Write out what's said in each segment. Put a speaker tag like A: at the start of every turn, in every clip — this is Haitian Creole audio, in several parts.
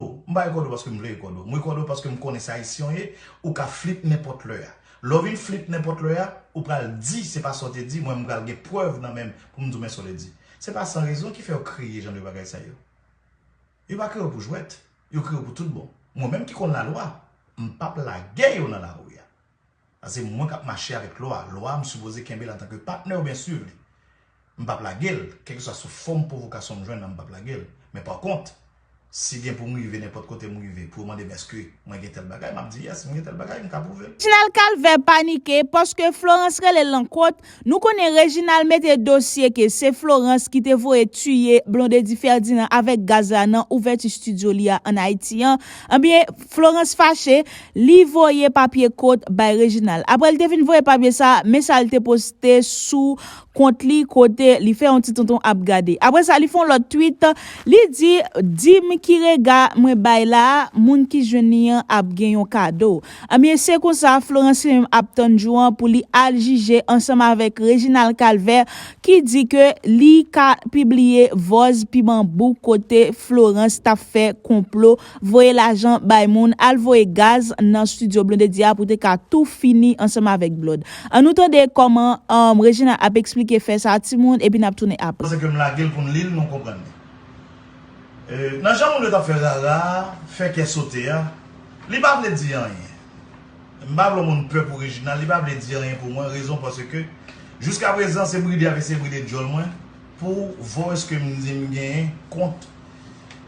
A: M pa rekòd ou paske m vle rekòd ou. M rekòd ou paske m konnen sa Ayisyen w ye, ou ka flip nenpòt lè a. Lè w vin flip nenpòt lè a, ou pral di se pa sa w te di, mwen m pral gen prèv nan men m pou m di w men sa w te di. Se pa san rezon ki fè yo kreye jan de bagay sa yo. Yo pa kreye yo pou jwèt, yo kreye yo pou tout bon. Mwen menm ki konn lalwa, m pap lage yo nan lari a. An se mwen kap mache avèk lwa, lwa a m sipoze kenbe l antanke patnè oubyen swiv li. M pap lage l, kèlkeswa sou fòm pwovokasyon m jwenn nan m pap lage l. Men pa kont, si gen pou m rive nenpòt kote m rive pou yo mande m èske mwen gen tèl bagay, m ap di yes, m gen tèl bagay, m ka pwouve l. Tinal Kalvè
B: panike paske Florence rele l nan kont, Nou konnen Reginald mete dosye ke se Florence ki te voye tiye Blondedy Ferdinand avèk gaz la nan ouvèti studio li a an Ayiti an, enbyen Florence fache, li voye papye kot bay Reginald. Aprè li te fin voye papye sa, men sa li te poste sou kont li kote li fè yon ti tonton ap gade. Aprè sa li fè yon lòt tweet, li di, Di m ki rega mwen bay la a, moun ki jwenn li an ap gen yon kado. Anmyee se konsa Florence menm ap tann jou an pou li al jije ansanm avèk Reginald Calvert ki di ke li ka pibliye vòz pi banbou kote Florence tap fè konplo voye lajan bay moun al voye gaz nan studio Blondedy a pou te ka tou fini ansanm avèk Blod. An nou tande kòman Reginald ap eksplike fè sa timoun epi nap tounen apre. Pase ke m lage l pou n li
A: l nou konprann li. Nan jan moun yo t ap fè rara a, fè kè sote a, li pa vle di anyen. M pa vle yon moun pè pou Reginald, li pa vle di anyen pou mwen, rezon paske jiskaprezan se bride ap eseye bride dyòl mwen pou voice ke m di m genyen kont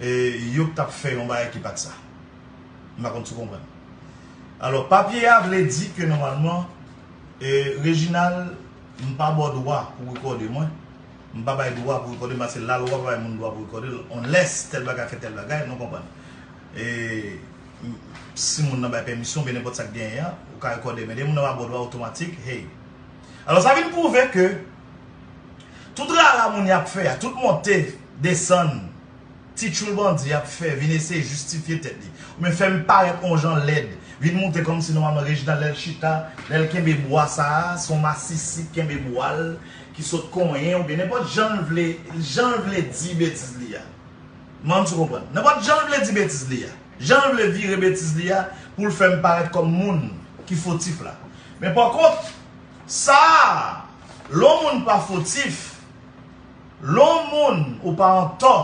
A: yo k t ap fè yon bagay ki pa t sa. M pa konn si w konprann. Alò, papye a vle di ke nòmalman Reginald m pa ba w dwa pou w rekòde mwen. M pa bay dwa pou rekòde m paske lalwa pa bay moun dwa pou rekòde l unless tèl bagay fè tèl bagay, nou konprann. E si moun nan bay pèmisyon oubyen nenpòt sa k genyen an, ou ka rekòde men lè moun nan pa ba w dwa otomatik, hey. Alò sa vin pwouve ke tout rara moun y ap fè a, tout monte, desann, Ti tchoul bandi ap fè vin eseye jistifye tèt li oubyen fè li parèt on jan lèd, vin moute kòmsi nòmalman Reginald lè l chita, lè l kenbe bwa sa a, se on masisi k kenbe bwa l ki sot konyen oubyen nenpòt jan l vle jan l vle di betiz li a. M ann si w konprann. Nenpòt jan l vle di betiz li a. Jan l vle vire betiz li a pou l fè m parèt kòm moun ki fotif la. Men pakont, sa a, lè on moun pa fotif. Lè w moun ou pa antò,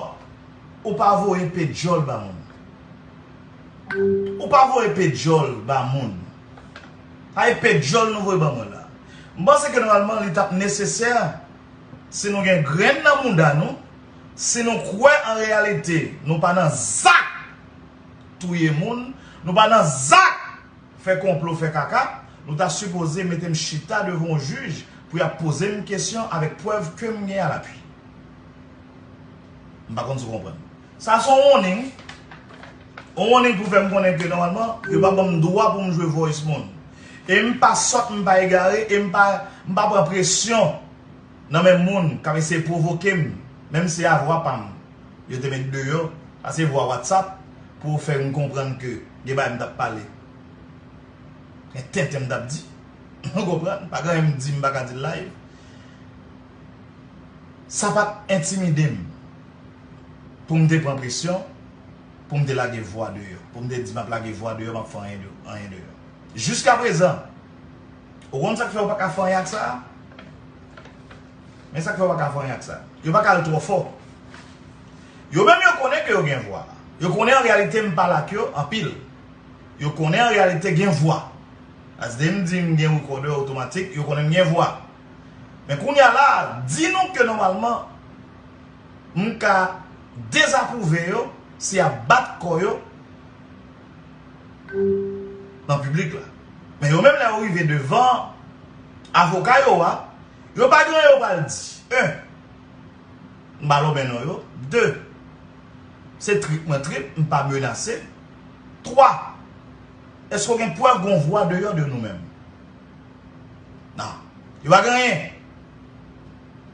A: ou pa voye pe dyòl ba moun. Ou pa voye pe dyòl ba moun. Pa e pe dyòl nou voye ban mwen la. M panse ke nòmalman li tap nesesè si nou gen grenn nan mouda nou, si nou kwè an reyalite nou pa nan zak touye moun, nou pa nan zak. Fè konplo fè kaka, nou ta sipoze metem chita devan yon jij pou yap pozem kesyon avèk prèv kem gen a lapui. M pa konn si w konprann. Sa se yon warning. Yon warning pou fè m konnen ke nòmalman yo pa banm dwa pou m jwe voice moun. E m pa sòt, m pa egare, e m pa pran presyon. nan men moun kap eseye provoke m menm se a vwa pa m yo te met deyò sa se vwa whatsapp pou yo fè m konprann ke gen bagay m tap pale gen tenten m tap di ou konprann pa gen anyen m di m paka di l live sa pat entimide m pou m te pran presyon pou m te lage vwa deyò pou m te di map lage vwa deyò map fè anyen deyò jiskaprezan Ou konn sak fè ou paka fè anyen ak sa? Men sak fè ou paka fè anyen ak sa. Yo paka al twò fò. Yo menm yo konnen ke yo gen vwa. Yo konnen an reyalite m pale ak yo anpil. Yo konnen an reyalite gen vwa. As de m di m gen recorder otomatik, yo konnen m gen vwa. Men kounya la, di nou ke nòmalman m ka dezapwouve yo si yap bat kò yo. nan piblik la. Men yo menm lè yo rive devan avoka yo a, yo pa gen anyen yo pral di. 1. M pa lonmen non yo. 2. Se trip mwen trip, m pa menase. 3. Eske w gen prèv gon vwa deyò de nou menm? Nan. Yo pa gen anyen.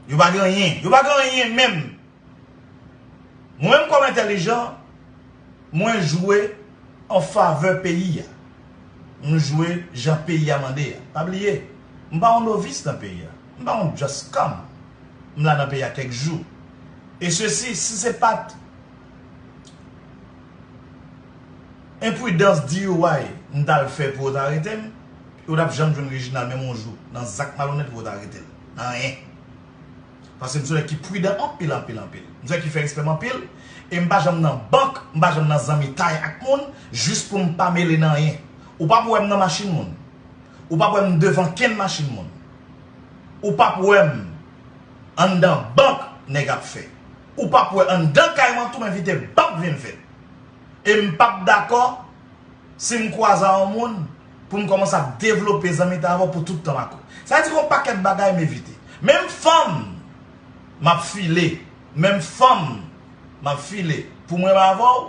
A: Yo pa gen anyen. Yo pa gen anyen menm. Mwen kòm entèlijan, mwen jwe an favè peyi a. M jwe jan peyi a mande a. Pa bliye, m pa yon novis nan peyi a. M pa yon just come. M la nan peyi a kèk jou. E sesi, si se pat enpridans DUI m t al fè pou yo t arete m, yo t ap janm jwenn Reginald menm yon jou nan zak malonèt pou yo t arete l. Nan anyen. Paske m se yon nèg ki pridan anpil anpil anpil. M se yon nèg ki fè respè m anpil. E m pa janm nan bank, m pa janm nan zanmitay ak moun jis pou m pa mele nan anyen. Ou pap wè m nan machin moun. Ou pap wè m devan kenn machin moun. Ou pap wè m anndan bank nèg ap fè. Ou pap wè anndan kay mwen tou m envite bank vin fè. E m pap dakò. Si m kwaze a yon moun, pou m kòmanse ap devlope zanmitay avè w pou tout tan m ak ou. Sa vle di gen yon pakèt bagay m evite. Menm fanm m ap file, menm fanm m ap file pou m renmen avè w,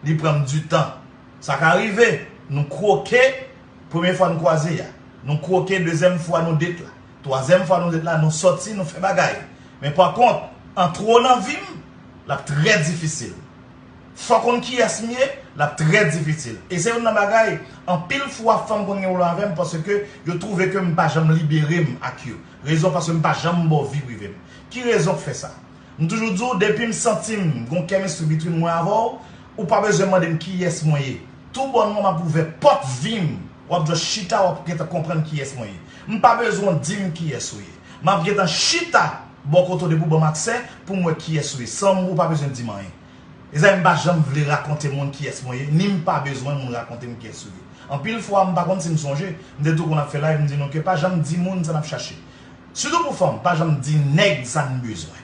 A: li pran m di tan. Sa ka rive nou kwoke premye fwa n kwaze a, nou kwoke dezyèm fwa nou date la, twazyèm fwa nou date la, nou sòti, nou fè bagay. Men pa kont, an twò nan vi m, l ap trè difisil. Fò konn kiyès m ye, l ap trè difisil. E se youn nan bagay, anpil fwa fanm konn gen pwoblèm avè m paske yo twouve ke m pa janm libere m ak yo. Rezon paske m pa janm ba w vi prive m. Ki rezon k fè sa? M toujou di w depi m santi m gon kemistri bitwin mwen avè w, ou pa bezwen mande m kiyès mwen ye. Tou bònman m ap ouvè pòt vi m, w ap just chita w ap gentan konprann kiyès mwen ye. M pa bezwen w di m kiyès ou ye. M ap gentan chita bò kote w depi w ban m aksè pou m wè kiyès ou ye san ou pa bezwen di m anyen. Mezanmi m pa janm vle rakonte moun kiyès mwen ye ni m pa bezwen moun rakonte m kiyès yo ye. Anpil fwa m pa konn si m sonje, m te tou konn ap fè live m di nou ke pa janm di moun sa n ap chache. Sitou pou fanm, pa janm di nèg sa n bezwen.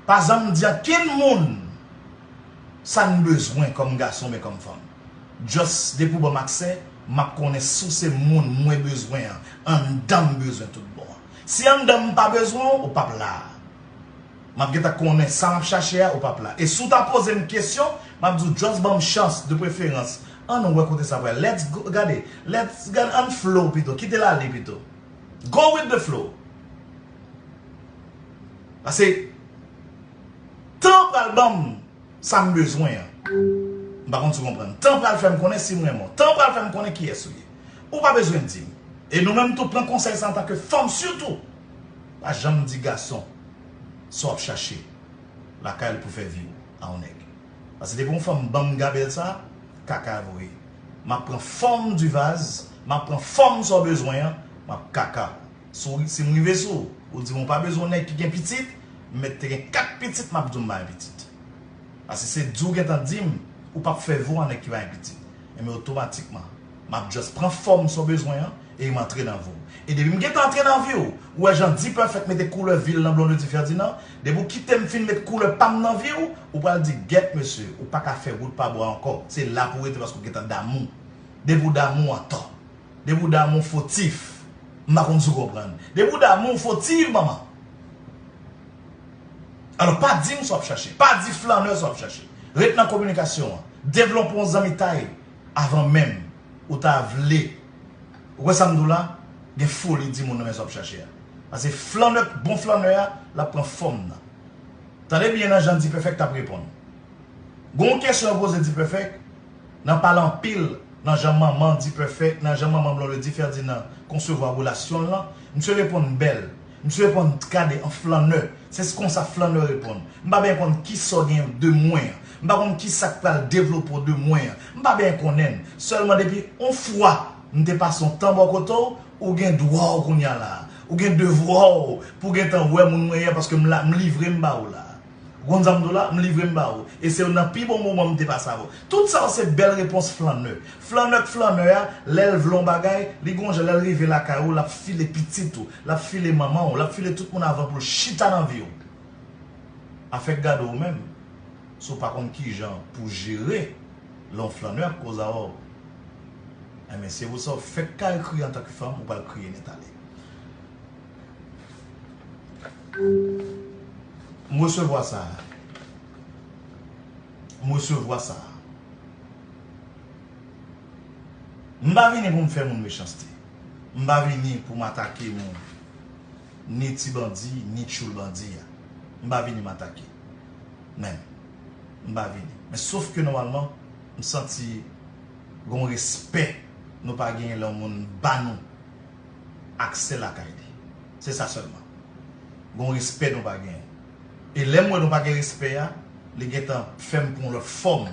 A: Pa janm di ankenn moun sa n bezwen kòm gason oubyen kòm fanm. Just depi w ban m aksè, m ap konnen si w se moun mwen bezwen an anndan m bezwen tout bon. Si anndan m m pa bezwen w, ou p ap la a. Map gentan konnen sa map chache a ou pap la e si w ta poze m kesyon map di w just ban m chans de preferans ann wè kote sa pral let's go gade let's gad ann flow pito kite l ale pito go with the flow pase tan pral ban m sa m bezwen an m pa konn si w konprann tan pral fè m konnen si m renmen w tan pral fè m konnen kiyès ou ye ou pa bezwen di m e nou menm tou pran konsèy sa antanke fanm sitou pa janm di gason. sa wap chache lakay l pou fè vi w a yon nèg pase depi yon fanm banm gabèl sa kaka vre map pran fòm di vaz map pran fòm sa w bezwen an map kaka w si w si m rive sou w di m ou pa bezwen yon nèg ki gen pitit m mèt te gen 4 pitit map di w m pa gen pitit pase se di w gentan di m ou pap fè vi w a yon nèg ki pa gen pitit enben otomatikman. Map just pran fòm sa w bezwen an e m antre nan vi w. E depi m gentan antre nan vi w, ou wè jan D-Perfect mete koulè vi l nan Blondedy Ferdinand, depi w kite m fin met koulè pa m nan vi w, ou pral di gèt mesye, ou pa ka fè wout pa bwa ankò, se la pou w rete paske w gentan damou. Depi w damou antò. Depi w damou fotif. M pa konn si w konprann. Depi w damou w fotiv manman. Alò pa di m sa w ap chache. Pa di flannè sa w ap chache. Ret nan kominikasyon an. Devlonpe yon zanmitay. Avan menm ou ta vle ou wè sam diw la gen foli di moun nan men sa wap chache a pase flannè bon flannè a lap pran fòm nan tande byen nan jan Dpèfèk tap reponn gonw kesyon yo poze Dpèfèk nan pale anpil nan jan manman Dpèfèk nan jan manman Blondedy Ferdinand konsevwa relasyonl lan misye reponn bèl Msye reponn, T gade an flannè. Se s konsa flannè reponn. M pa benyen konn ki sa w genyen w de mwen an. M pa konn ki sa k pral devlope w de mwen an. M pa benyen konnen. Sèlman depi on fwa m te pase on tan bò kote w, ou gen dwa w kounye a la a. Ou gen devwa w pou w gentan wè moun mwen ye a paske m la, m livre m ba ou la a. Gon zam dola, m livre m ba ou. E se youn nan pi bon moman m te pase avè w. Tout sa yo se bèl repons flannè. Flannè k flannè a, lè l vle yon bagay, li gon jan lè l rive lakay ou l ap file pitit ou, l ap file manman ou, l ap file tout moun avan pou l chita nan vi w. Afè k gade w menm, si w pa konn ki jan pou w jere lè yon flannè ap koze avè w, enben se pou sa w fèk ka ekri antanke fanm ou pral kriye nètale. M resevwa sa a. M resevwa sa a. M pa vini pou m fè moun mechanste. M pa vini pou m atake moun. Ni ti bandi, ni tchoul bandi a. M pa vini m atake. Menm. M pa vini. Men sof ke nòmalman, m santi gen yon respè nou pa genyen lè yon moun ba nou. ak sè lakay li. Se sa sèlman. Gen yon respè nou pa genyen. E lè m wè nou pa gen respè a, li gen tan fè m pran yon lòt fòm.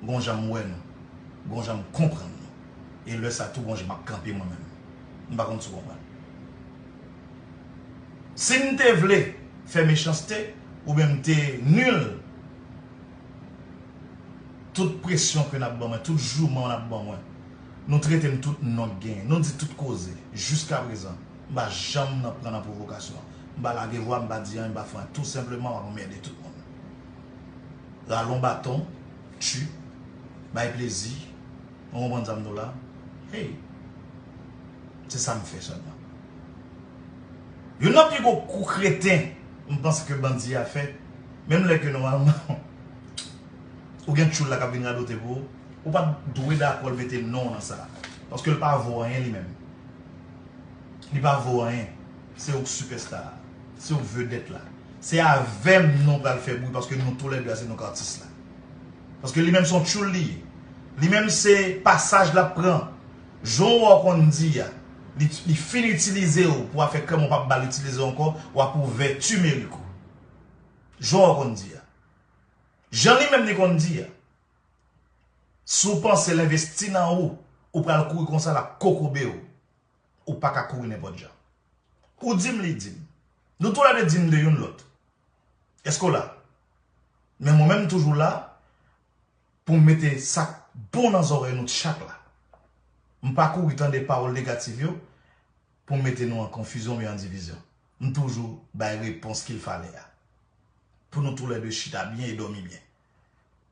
A: Gen yon jan m wè nou. Gen yon jan m konprann nou. E lè sa tou gen yon jan m ap kanpe mwen menm. M pa konn si w konprann. Si m te vle fè mechanste, oubyen m te nul, tout presyon ke n ap ban mwen, tout jouman w ap ban mwen, Nou trete m tout non k genyen. Nou di tout koze. Jiska prezan, m pa janm nan pran nan pwovokasyon. M pa lage vwa, m pa di anyen, m pa fè anyen. Tou senpleman, m ap anmède tout moun. Ralon baton, tchu, bay plezi, nou konprann sa m di w la? Hey! Se sa m fè sèlman. Youn nan pi gwo kou kreten m panse ke bandi a fè, menm lè ke nòmalman ou gen tchoul la k ap vin radote pou ou, Ou pat dwe dakòl mete non w nan sa. Paske l pa vo anyen li menm. Li pa vo anyen. Se ou k sipèsta a. Se ou k vedèt la. Se avè m non pral fè bri paske nou tou lè 2 a se nou k atis la. Paske li menm son tchoul li ye. Li menm se pasaj lap pran. Jan w wè w konn di a. Li fin itilize w pou afè kèm ou pap bal itilize w ankò. Wap ouvè timerik ou. Jan w wè w konn di a. Jan li menm li konn di a. Si w panse l envesti nan ou, ou pral kouri konsa l ap kokobe w. Ou pa ka kouri nenpòt jan. Ou di m li di m. Nou tou lè de di m de youn lòt. Èske w la? Men mwen menm m toujou la pou m mete sa k bon nan zòrèy nou tchak la. M pa kouri tande pawòl negatif yo pou m mete nou an konfizyon oubyen an divizyon. M toujou bay repons ki l fale a. Pou nou tou lè de chita byen e dòmi byen.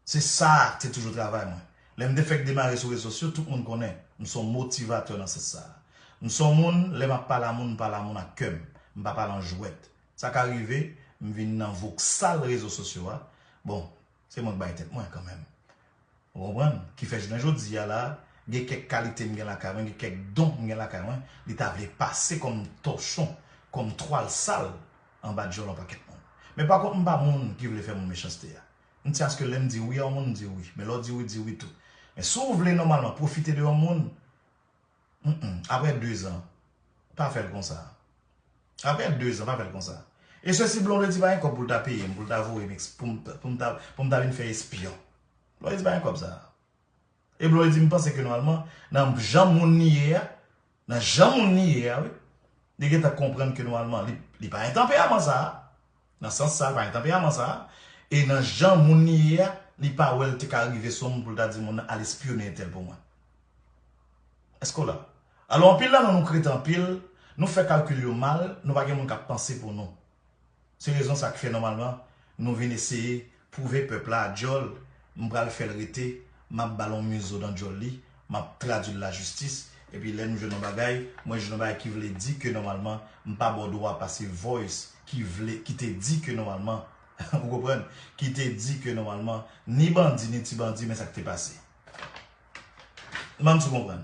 A: Se sa a te toujou travay mwen. Lè m te fèk demare sou rezo sosyo, tout moun konnen, m s on motivatè nan sans sa a. M s on moun, lè m ap pale a moun, m pale a moun ak kè m, m pa pale an jwèt. Sa ka rive, m vin nan voksal rezo sosyo a, bon, se mwen k bay tèt mwen kanmenm. Ou konprann? Ki fè jounen jodi a la a, gen kèk kalite m gen lakay mwen, gen kèk don m gen lakay mwen, li ta vle pase kòm tòchon, kòm twal sal, anba dyòl yon pakèt moun. Men pa kont m pa moun ki vle fè moun mechanste a. M tyen aske lè m di wi a yon moun m di wi. Men lè w di wi, di wi tou. Men si w vle nòmalman pwofite de yon moun, m m, aprè dezan, pa fè l konsa. Aprè dezan, pa fè l konsa. E sesi Blondedy pa gen kòb pou l ta peye m, pou l ta voye m, pou m ta vin fè espyon. Blondedy pa gen kòb sa a. Eblo di m panse ke nòmalman nan jan moun li ye a, nan jan moun li ye a wi, li gentan konprann ke nòmalman li pa gen tanperaman sa a, nan sans sa a li pa gen tanperaman sa a, e nan jan moun li ye a, li pa wè li te ka rive sou moun pou li ta di moun nan al espyone entèl pou mwen. Èske w la? Alò anpil nan nou nou kreten anpil, nou fè kalkil yo mal, nou pa gen moun k ap panse pou nou. Se rezon sa k fè nòmalman nou vin eseye pwouve pèp la a djòl m pral fè l rete m ap ba l yon mizo dan djòl li m ap tradui l lajistis epi lè nou jwenn yon bagay mwen jwenn yon bagay ki vle di ke nòmalman m pa ba w dwa pase voice ki vle ki te di ke nòmalman ou konprann ki te di ke nòmalman ni bandi ni ti bandi men sa k te pase m pa m si w konprann.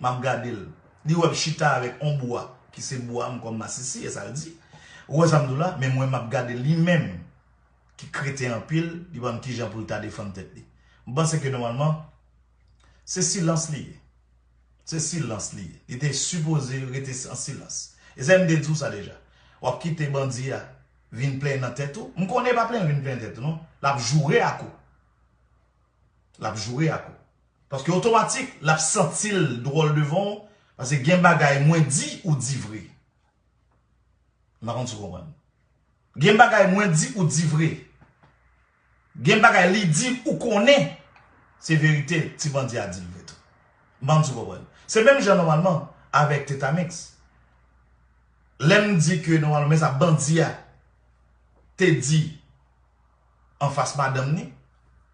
A: Map gadel Li wem chita avek on bwa ki se bwam kom masisi esal di Ou we sam dou la men mwen map gadel li menm ki kreten anpil li pa konn kijan poul ta defann tet li M panse ke nomalman se silans li ye Se silans li ye Li te sipoze rete an silans Esam te diw sa deja Wap kite bandi a vin plenyen nan tet ou M konnen li pa plenyen vin plenyen nan tet ou non Lap joure ak ou Lap joure ak ou. Paske otomatik lap santil dwòl devan w paske gen bagay mwen di ou di vre m pa konn si w konprann gen bagay mwen di ou di vre gen bagay li di ou konnen se verite ti bandi a di l vre tou m pa konn si w konprann se menm jan nòmalman avèk tetamix lè m di ke nòmalman men sa bandi a te di anfas madanm ni.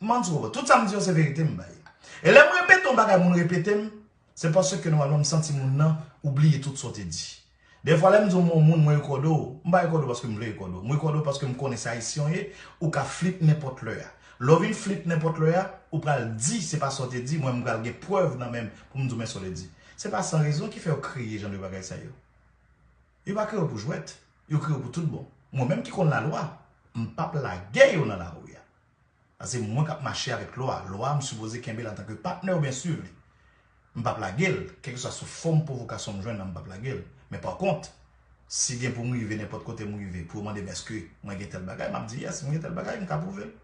A: M'en di ou, tout sa m'di yo se verite m'bay. E lè m'repete yon bagay moun repete'm, se paske nòmalman m'santi moun nan ou bliye tout sa ou te di. Dèfwa lè m'di yon mo moun mwen rekòde ou, m'pa rekòde ou paske m'vle rekòde ou. M'rekòde ou paske m'konnen se Ayisyen ou ye, ou ka flip nenpòt lè a. Lè ou vin flip nenpòt lè a, ou pral di se pa sa ou te di, mwen m'pral gen prèv nan menm pou'm di ou men sa ou te di. Se pa san rezon ki fè yo kreye jan de bagay sa yo. Yo pa kreye w pou jwèt, yo kreye w pou tout bon. Mwen menm ki konn lalwa, m p ap lage yo nan lari a. Sa se mwen k ap mache avèk lwa, lwa a m sipoze kenbe l antanke patnè oubyen swiv li. M p ap lage l, kèlkeswa sou fòm pwovokasyon m jwenn nan m p ap lage l. Men pakont, si gen pou m rive nenpòt kote m rive pou yo mande m èske mwen gen tèl bagay, m ap di yes, mwen gen tèl bagay, m ka pwouve l.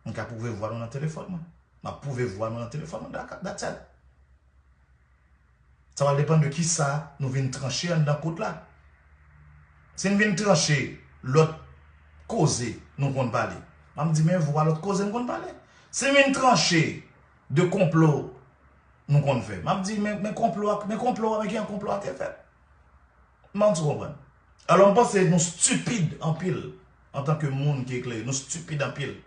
A: M ka pwouve vwa nou nan telefòn mwen. M ap pwouve vwa nou nan telefòn mwen, that's all. Sa va depann de kisa nou vin tranche anndan kot la. Si n vin tranche lòt koze nou konn pale, m ap di men vwa lòt koze m konn pale. Si n vin tranche de konplo nou konn fè, m ap di men konplo a, men konplo a, men kijan konplo a te fèt. M panse ou konprann. Alò m panse nou stipid anpil antanke moun ki eklere. Nou stipid anpil.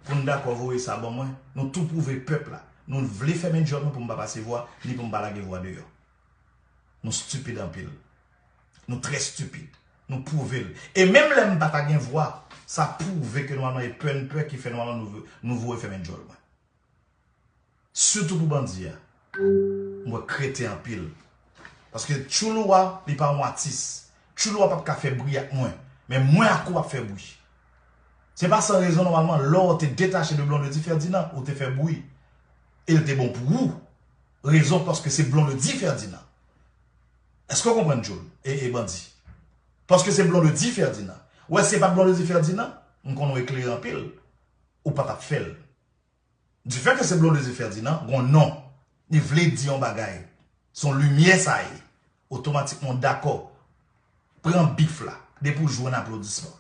A: pou n dakò voye sa ban mwen, nou tou pwouve pèp la nou vle fèmen dyòl nou pou m pa pase vwa, ni pou m pa lage vwa deyò. Nou stupid anpil. Nou trè stupid. Nou pwouve l. E menm lè m pa ta gen vwa, sa pwouve ke nou al nan e pè n pè ki fè nou al nan nou voye fèmen dyòl mwen. Sitou pou bandi a. M wè kreten anpil. Paske tchoulou wa li pa yon atis. Tchoulou wa pap ka fè bri ak mwen. Men mwen ak ou ap fè bri. Se pa san rezon nòmalman lè w te detache de Blondedy Ferdinand ou te fè bri. E l te bon pou ou. Rezon paske se Blondedy Ferdinand. Eske w konprann tchoul e bandi. Paske se Blondedy Ferdinand. Wè si se pat Blondedy Ferdinand m konnen w eklere anpil ou pa tap fè l. Du fait que se Blondedy Ferdinand, gon non, li vle di yon bagay, son limyè sa ye, otomatikman w dakò, pran bif la, depi w jwenn aplodisman.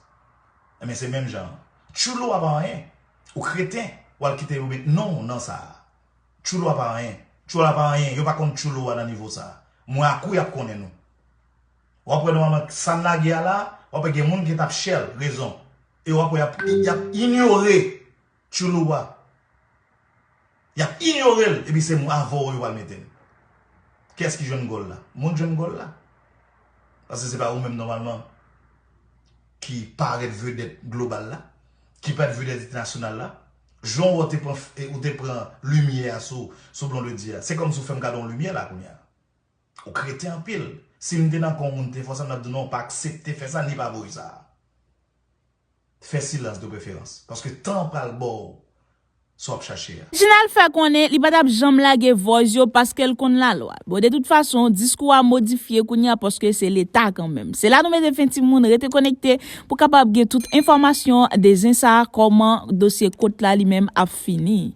A: Enben se menm jan an. Tchoul ou a pa anyen, ou kreten, w al kite yo met non w nan sa a. Tchoul ou a pa anyen, tchoul a pa anyen, yo pa konn tchoul ou a nan nivo sa a. Mwen ak ou y ap konnen nou. W ap wè nòmalman sa n lage a la, w ap wè gen moun ki t ap chè l, rezon, e w ap wè y ap inyore Tchoulouwa. Y ap inyore l epi se avè w yo pral mete l. Kiyès ki jwenn gòl la? Mwen k jwenn gòl la. Paske se pa ou menm nòmalman ki parèt vedèt global la, ki parèt vedèt entènasyonal la. Jan w te pran limyè a sou Blondedy a, se kòmsi w fè m gade yon limyè la kounya. Ou kreten anpil. Si m te nan kan w moun te fè w sa, m t ap di w non, pa aksepte fè sa ni pa voye sa. Fè silans de preferans, paske tan an pral ba w sa w ap chache a. Jinal fè konnen
B: li pa t ap janm lage Voice yo paske l konn lalwa. Bon de tout fason, diskou a modifye kounya paske se leta kanmenm. Se la nou mete fen timoun, rete konekte pou kapab gen tout enfòmasyon de zen sa kòman dosye kot la li menm ap fini.